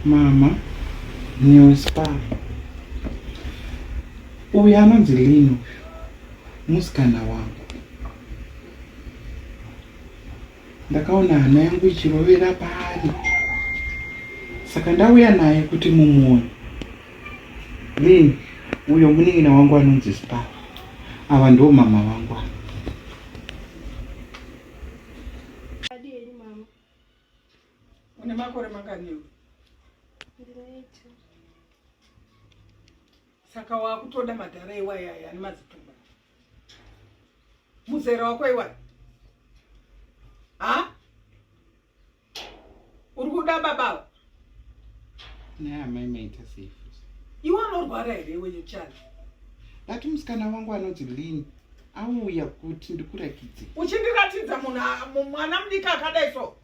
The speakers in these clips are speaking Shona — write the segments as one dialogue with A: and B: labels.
A: Mama news pa uyu anonzi Lino musikana wangu ndakaona hana yangu ichirovera paari saka ndauya naye kuti mumuone lin uyo munin'ina wangu anonzi spa ava ndo mama vangu ava
B: Une makore manganiwo? Saka wakutoda madhara iwaya aya ane mazitumba. Muzera wako iwaya. Ha? Uri kuda baba?
A: Nah, my mate is safe. Iwe unorwara
B: here iwe yochana? But
A: musikana wangu anonzi Lynn auya kuti ndikuratidze. Uchindiratidza
B: munhu mwana mudiki akadai so?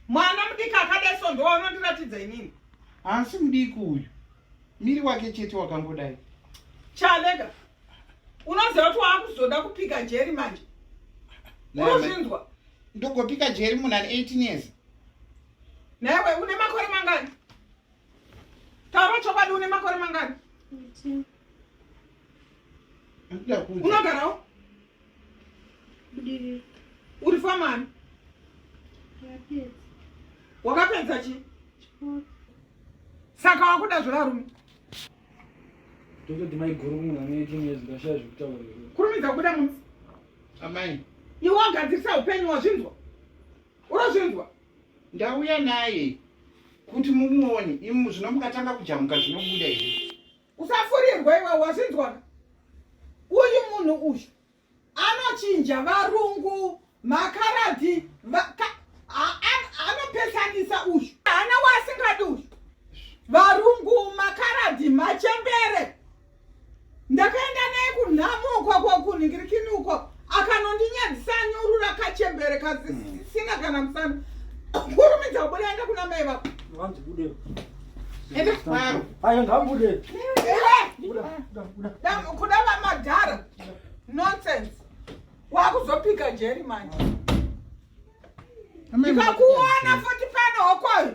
B: mwana mudiki akadai so ndowanondiratidza inini haasi mudiki
A: uyu miri wake chete wakangodai chalega
B: unoziva kuti waakuzoda kupika jeri manje unozvinzwa ndogopika
A: jeri munhu ane 18 years
B: naiwe une makore mangani taura chokwadi une makore mangani unogarawo uri famani wakapedza chi saka wakuda zvirarume tototi
C: maiguru munhu ane 18 years ndashaya zvekutaura kurumidza kubuda munzi
B: amai
A: iwe wagadzirisa
B: upenyu wazvinzwa urozvinzwa ndauya
A: naye kuti mumuone imu zvino mukatanga kujamuka zvinobuda here usafurirwa
B: iwe wazvinzwaka uyu munhu uyu anochinja varungu makaradhi anopesanisa uyu hana waasingadi uyu varungu makaradhi machembere ndakaenda naye kunhamo ukwakwakunhingirikini ukwako akanondinyadzisa anyurura kachembere kasina hmm. kana musana kurumidza kubuda enda kuna mai
C: vako
B: kuda vamadhara nonsense wakuzopika jeri manje ndikakuona futi pano hokoyo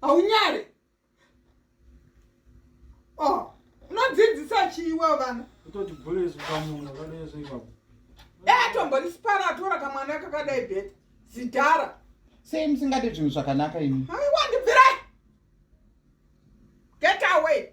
B: haunyare oh, unodzidzisa chiiwa vana kutoti bhule
C: zvikamuna kadai zvoipapo
B: etomborisipara eh, atora kamwana kakadai
A: bheta
B: zidhara
A: sei
B: musingade
A: zvinhu zvakanaka
B: imi
A: aiwa
B: ndibvirai get away